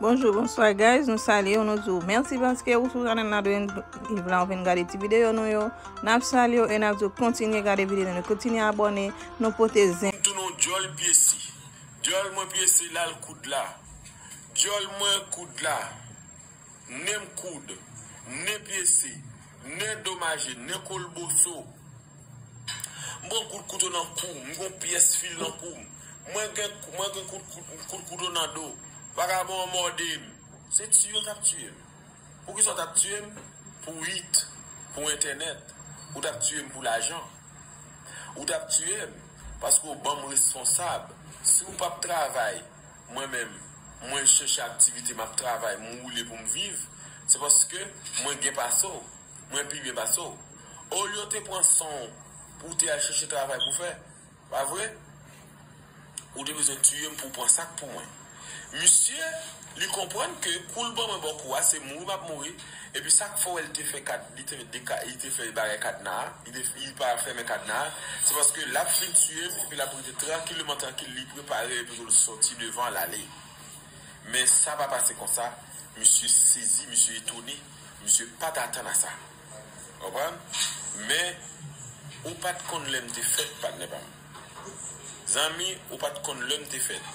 Bonjou bonswa guys nou salyew nou diw mèsi paske ou sou chanèl la dwen live la ou vin gade ti videyo nou yo nap salyew e nap diw kontinye gade videyo nou yo kontinye abòne nou pote zen M tounen yon dyòl pyesi. Dyòl mwen pyese lal koud la Dyòl mwen koud la Nen m koud Nen pyese Nen domaje Nen kolboso. M pran kout kouto nan kou m, m gen yon pyès fil nan kou m. Mwen gen kout kouto nan do m. Vagabon an mòde m. Se tiye w t ap tiye m? Poukisa w t ap tiye m? Pou it? Pou entènèt? Ou t ap tiye m pou lajan? Ou t ap tiye m paske w ban m responsab? Si w p ap travay, mwen menm, mwen chèche aktivite, m ap travay, m woule pou m viv, se paske mwen gen pase w. Mwen pi byen pase w. Olye w te pran san w pou w te al chèche travay pou w fè, pa vre? Ou te bezwen tiye m pou w pran sa k pou mwen. Misye, li konprann ke kou l ban mwen bò kou a, se mouri m ap mouri, epi sa k fè w wè li te fè kad, li te, de ka, li te fè bagay kadna a, li te, li pa fèmen kadna a, se paske l ap fin tiye m epi l ap rete trankileman trankil, li prepare epi pou l sòti devan l ale. Men sa pa pase konsa, misye sezi, misye etone. Misye pat atann a sa. Konprann? Men, ou pat konn lè m te fèt, patnè pa m. Zanmi, ou pat konn lè m te fèt.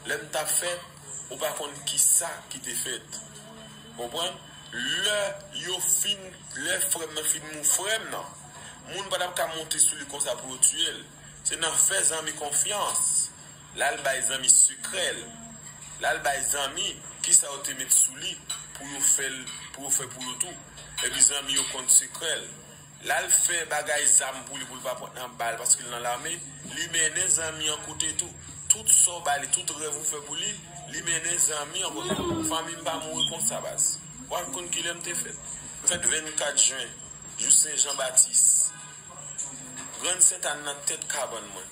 Lè m t ap fèt, ou pa konn ki sa ki te fèt. Konprann? Lè yo fin, lè frè m nan fin mou, frè m nan, moun pa t ap ka monte sou li konsa pou yo tiye l. Se nan fè zanmi konfyans. Lal bay zanmi sekrèl. Lal bay zanmi kisa yo te met sou li pou yo fèl pou yo fè pou yo tou. Epi zanmi yo konn sekrèl. Lal fè bagay zam pou li poul pa pran nan bal paske li nan lame. Li mennen zanmi an kote tou. Tout sa w bay li, tout rèv ou fè pou li, li mennen zanmi an kote. Fanmi m pa mouri konsa baz. Wal konn kilè m te fèt. Fèt 24 jen, jou sen jan batis. Grann sentane nan tèt kabann mwen.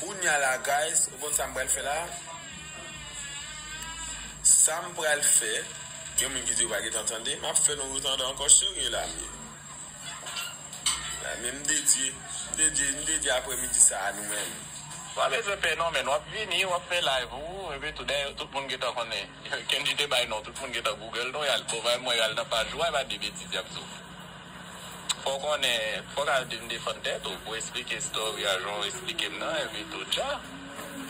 Kounya la guys ou konn sam pral fè la Sam pral fè gen moun ki di yo pa gentan tande map fè nou retande ankò cherie Lamie Lamie m dedye m dedye m dedye aprè midi sa a nou menm. Pa bezwen pè non menn wap vini wap fè live ou epi tou dayè tout moun gentan konnen Kendji te bay non tout moun gentan google nou yal bon bay mwen yal nan paj ou a epa de betiz yap di w. Fòw konnen, fòk al byn defann tèt ou pou esplike story a janw esplikem nan epi tou dja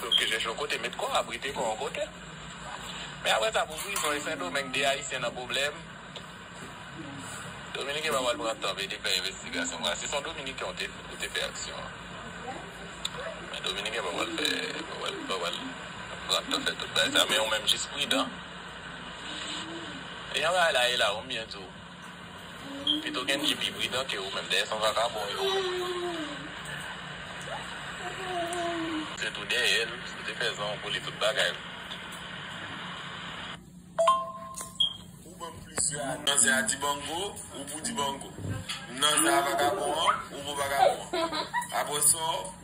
pou ke jèch yon kote met kòw abrite kòw yon kote men aprè sa pou prizon e sendomeng 2 ayisyen nan pwoblèm dominiken pa pral pran tan vede fè envestigasyon konsa si son dominiken ou te ou te fè aksyon an men dominiken pa pral fè pa pral pa pral pran tan fè tout bagay sa men ou menm jis pridan e yon bagay la e la ou m byen diw. Pito Gendji pi pridan ke ou menm dèyè san vakabon yo. Tèt ou dèyè l, si w te fè zan ou boule tout bagay l. Ou banm plis la. M nan zen a Dibango, ou pou Dibango. M nan zen a vakabon an, ou pou vakabon an. Aprè sa w.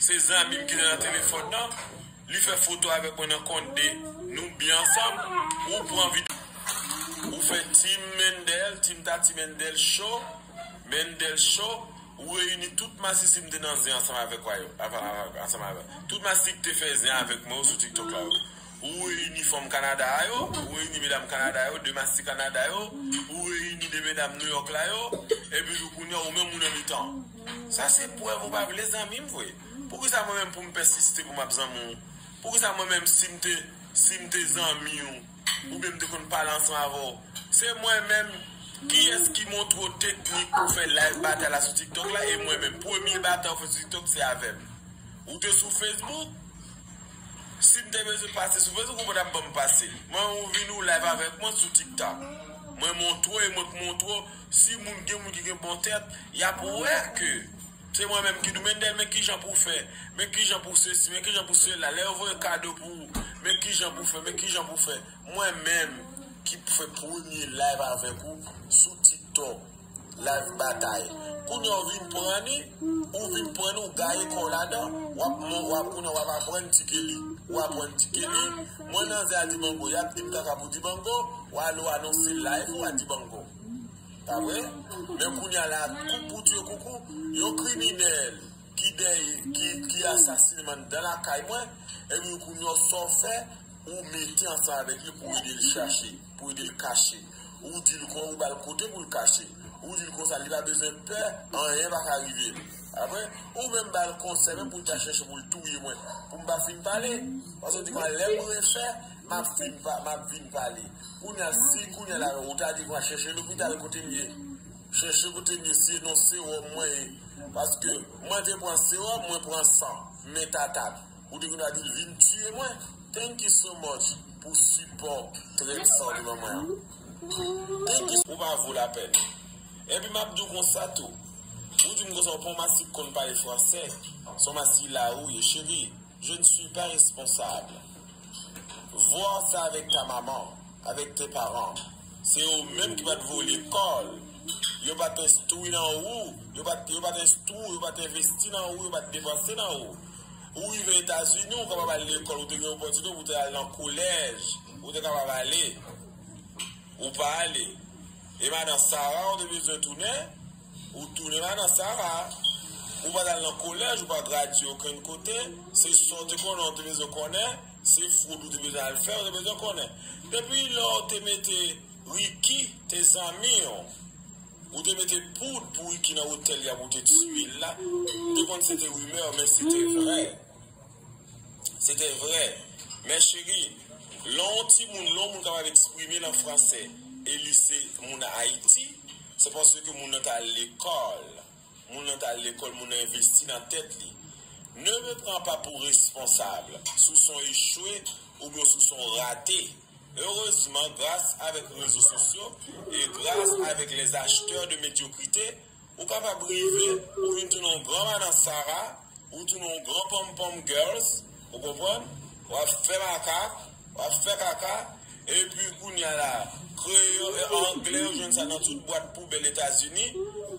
Se zanmim ki te nan telefòn nan li fè foto avèk mwen nan kont de nou byen ansanm ou pran video ou fè team Mendel team Tati Mendel show Mendel show ou reyini tout masisi m te nan zen ansanm avèk wa yo tout masisi ki te fè zen avèk mwen yo sou tiktok la yo. Ou reyini fanm Kanada a yo, ou reyini medam Kanada yo, de masti Kanada yo, ou reyini de medam Nouyòk la yo, epi tou kounye a ou menm ou nan mitan. Sa se prèv ou pa vle zanmi m vre. Poukisa mwen menm pou m pèsiste pou m ap zanmi w? Poukisa mwen menm si m te, si m te zanmi w, oubyen m te konn pale ansan avè w, se mwen menm, kiyès ki montre w teknik pou w fè live batay la sou TikTok la, e mwen menm, premye batay ou fè sou TikTok se avè m. Ou te sou Facebook, Sim te bezwen pase sou facebook ou pa tap banm pase mwen ou vin ou live avek mwen sou tiktok mwen montre e mwen k montre w si moun gen moun ki gen bon tèt yap wè ke se mwen menm ki di w Mendel men kijan pou w fè men kijan pou w sesi men kijan pou w sela lè yo voye kado pou ou men kijan pou w fè men kijan pou w fè mwen menm ki fè premye live avek ou sou tiktok. Live batay Kounya ou vin pran ni ou vin pran ni ou gaye kòw ladan wap kounya wap aprann ti Kelly ou aprann ti Kelly mwen nan zen a Dibango yap dim kaka pou Dibango ou ale ou anonse live ou a Dibango pa vre men kounya la kou pou dye koukou yon kriminèl ki dèy ki asasine man dan lakay mwen epi kounya saw fè ou mete ansanm avèk li pou edel chache. Pou ede l kache. Ou di l kon ou ba l kote pou l kache. Ou di l konsa li pa bezwen pè, anyen pa ka rive l. Apre, ou menm ba l konsèy menm pou l ta chèche pou l touye mwen, pou m pa fin pale. Paske ou di konsa lè mwen refè, m ap fin pa, m ap vin pale. Kounye a, si kounye la ou ta di konsa chèche lopital kote m ye. Chèche kote m ye si e non sewòm mwen ye. Paske mwen te pran sewòm, mwen pran san. Men tata. Ou te vin adil vin tiye mwen. Thank you so much pou sipò trèt sa ou te ban mwen an. Thank you. Ou pa vo lapèn. Enpi map di w konsa tou. Ou di m konsa ou pa yon masi k konn pale fransè. Se yon masi la ou ye. Cheri, je ne suis pas responsable. Voir ça avec ta maman, avec tes parents. Se yo menm ki pa t voye lekòl. Yo pa t enstwi nan ou. Yo pa t enstwi w. Yo pa t envesti nan ou. Yo pa t depanse nan ou. Ou rive Etazini, ou kapab al lekòl, ou te gen opòtinite pou w te al nan kolèj, ou te kapab ale. Ou pa ale. E madan Sara ou te bezwen tounen, ou tounen madan Sara. Ou pa t al nan kolèj, ou pa gradye okenn kote, se sa w te konnen ou te bezwen konnen, se fwoud ou te bezwen al fè ou te bezwen konnen. Depi lè w te mete Riki te zanmi w. Ou te mete poud pou Ricky nan otèl li ap ou te tiyel la m te konn se te rumeur men se te vrè se te vrè men cheri lè yon timoun lè yon moun kapab eksprime l an fransè e li se moun ayiti se paske moun nan t al lekòl moun nan t al lekòl moun nan envesti nan tèt li ne me pran pa pou responsable sou son echwe oubyen sou son rate. Erezman gras avèk rezo sosyo e gras avèk les acheteurs de mediocrite ou kapab rive ou vin tounen yon gran madan sara ou tounen yon gran ponmpom girls ou konprann wap fè makak wap fè kaka epi kounya la kreyol e anglè ou jwenn sa nan tout bwat poubèl etazini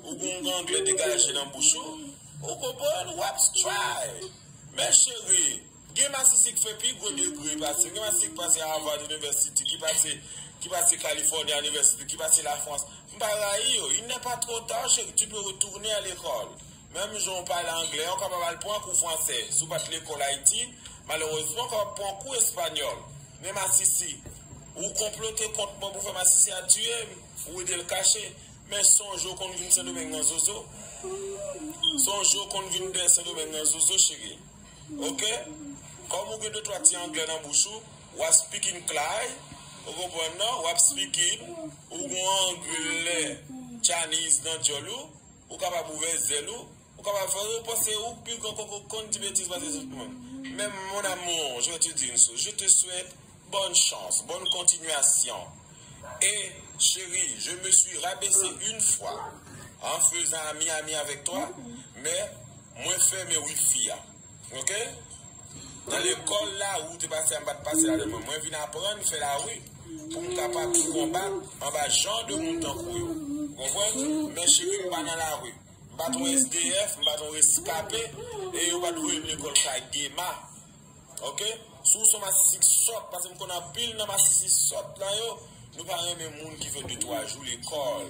ou gen yon anglè degaje nan bouch ou ou konprann wap stray men cheri. Gen masisi ki fè pi gwo degre pase yo. Gen masisi ki pase Harvard University, ki pase ki pase California University, ki pase la France. M pa rayi yo. Il n'est pas trop tard chéri, tu peux retourner à l'école. Menm jan ou pale anglè, ou kapab al pran kou fransè. Si w pa t lekòl Ayiti, malerezman ou kapab pran kou espanyòl. Men masisi, ou konplote kont mwen pou fè masisi a tiye m, ou ede l kache. Men sonje ou konn vin Sendomeng nan zozo. Sonje ou konn vin dèyè Sendomeng nan zozo chéri. Ok Kòm ou gen de twa ti anglè nan bouch ou Wap speaking klay Ou konprann non Wap speaking Ou gon anglè Chinese nan dyòl ou Ou kapab ouvè zèl ou Ou kapab fè Ou panse ou pi gran kòk ou konn di betiz pase tout moun Men mon amour je te di une chose Je te swèt Bonne chance, bonne continuation et chérie je me suis rabaissé une fois en faisant ami ami avec toi mais mwen fèmen wifi a ok nan lekòl la wi ou te pase a m pat pase la nan mwen mwen vin aprann fè la wi pou m kapab pou konba anba jan de moun tankou yo ou konprann men chérie m pa nan la wi m pat yon SDF m pat yon reskape e yo pat voye m lekòl kay Dema. Ok si w son masisi ki sòt paske m konn anpil nan masisi sòt la yo nou pa renmen moun ki fè 2 3 jou lekòl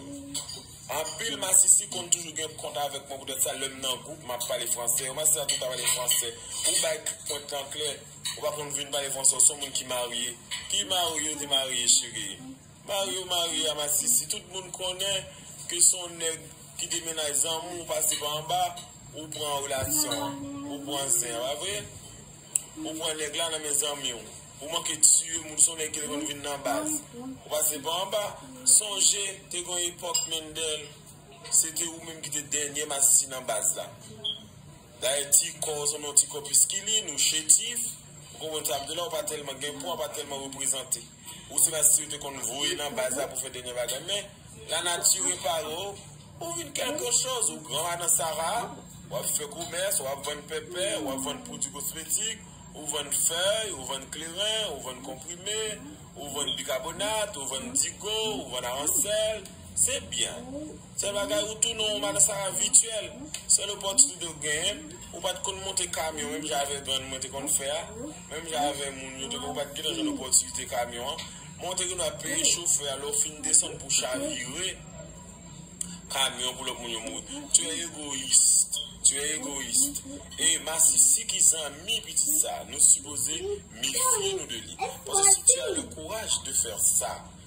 anpil masisi konn toujou gen kont avèk mwen poutèt sa lè m nan gwoup m ap pale fransè yon masisi sa tou ta pale fransè ou bay tout pwent lan klè ou pa konn vin pale fransè w son moun ki marye ki marye ou te marye cheri. Mario Maria masisi tout moun konnen ke son nèg ki te mennaj zanmi w pase pa anba ou pran relasyon an ou pran zen an pa vre ou pran nèg la nan men zanmi w ou manke tiye moun son nèg ki te konn vin nan baz ou pase pa anba sonje te gon epòk Mendel se te ou menm ki te dènye masisi nan baz la dayè ti kò w sanble yon ti kò piskilin ou chetif ou konprann sa m di w la ou pa tèlman gen pwa ou pa tèlman reprezante. Ou se pa siw te konn voye nan baz la pou fè denyè bagay men la nati repare w ou vin kelke choz ou gran madan sara wap fè komès wap vann pèpè wap vann pwodwi kosmetik ou vann fèy ou vann kleren ou vann konprime ou vann bikabonat ou vann digo ou vann aransèl Se byen. Fè bagay ou tounen yon malsa avityèl. Sèl opòtinite ou genyen, ou pa t konn monte kamyon menm jan avèk grann mwen te konn fè a, menm jan avè moun yo te konn, ou pa t gentan jwenn opòtinite kamyon an. Men ou te gen dwa peye chofè a lè w fin desann pou chavire kamyon pou lòt moun yo mouri. Tu es égoïste. Tu es égoïste. E masisi ki zanmi pitit sa a, nou sipoze mefye nou de li. Paske si tu as le courage de faire ça.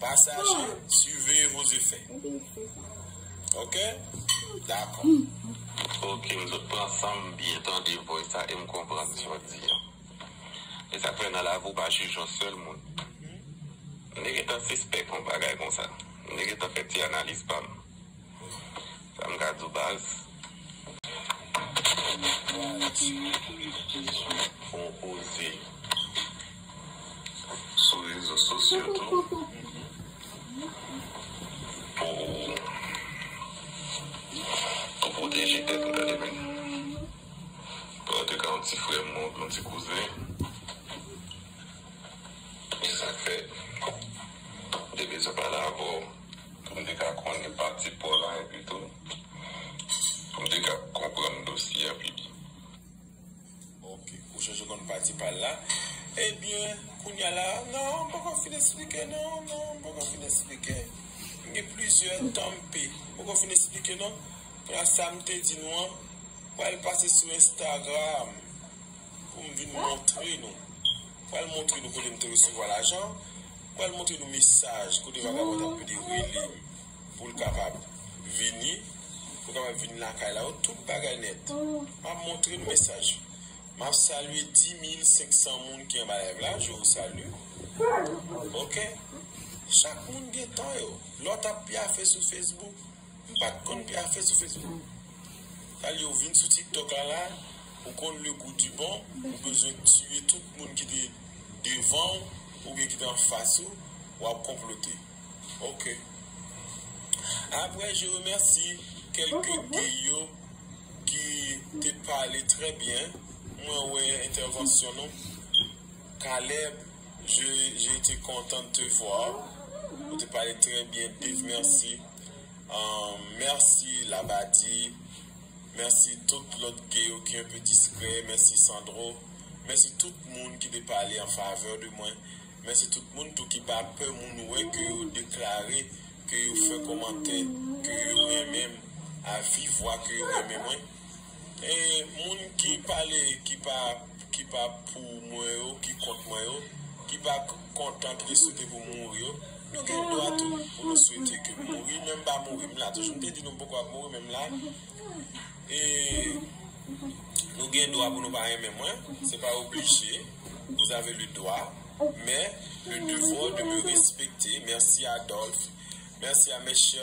Pasaje siveye vos efè ok dakò. Ok m sot pran sanm byen tande voice la em konprann sa wap di an esak fè nan lavi ou pa jij yon sèl moun m te gentan sispèk yon bagay konsa m te gentan fè ti analiz pam. Sam ka diw baz. Ou oze sou rezo sosyo tou pou pwoteje tèt ou gade byen. Bon an touka yon ti frè m yon ti kouzen esak fè mte bezwen pale avèw. pou m te ka konnen pati paw la epi tou pou m te ka konprann dosye a pi byen. Ok, ou chèche konn pati pal la. Ebyen, kounye a la, non, m poko fin esplike non, non, m poko fin esplike. M gen plizyè tan m p, m poko fin esplike non. Konnya sa m te di nou an, m pral pase sou Instagram pou m vin montre nou. Pral montre nou kote m te resevwa lajan an, pral montre nou mesaj kote vagabon t ap mande rele m pou l kapab vini, pou l kapab vin lakay la yo, tout bagay nèt. M ap montre nou mesaj. M ap salye 10,500 moun ki anba live la, je vous salue. Ok. Chak moun gen tan yo. Lòt ap pyafe sou Facebook. M pat konn gen afè sou Facebook. Talie ou vin sou tiktok la la ou konn le goût du bon ou bezwen tiye tout moun ki te devanw oubyen ki te anfas ou wap konplote ok après je remercie quelque gay yo ki te pale très bien mwen wè intervention nou Caleb je je te content de te voir ou te pale très bien Dave merci. Merci labadi merci tout lot ge yo ki enpe diskrè merci sandro merci tout moun ki te pale an favè de mwen merci tout moun tou ki pa pè moun wè ke yo deklare ke yo fè komantè ke yo renmen m a viv vwa ke yo renmen mwen. E moun ki pale ki pa ki pa pou mwen yo, ki kont mwen yo, ki pa kontan, ki te swete pou m mouri yo, nou gen dwa tou pou nou swete ke m mouri, men m pa mouri, m la toujou. M te di nou m poko ap mouri, men m la. E nou gen dwa pou nou pa renmen mwen, se pa oblije, vous avez le droit, mais le devoir de me respecter, merci Adolphe, merci à mes chers.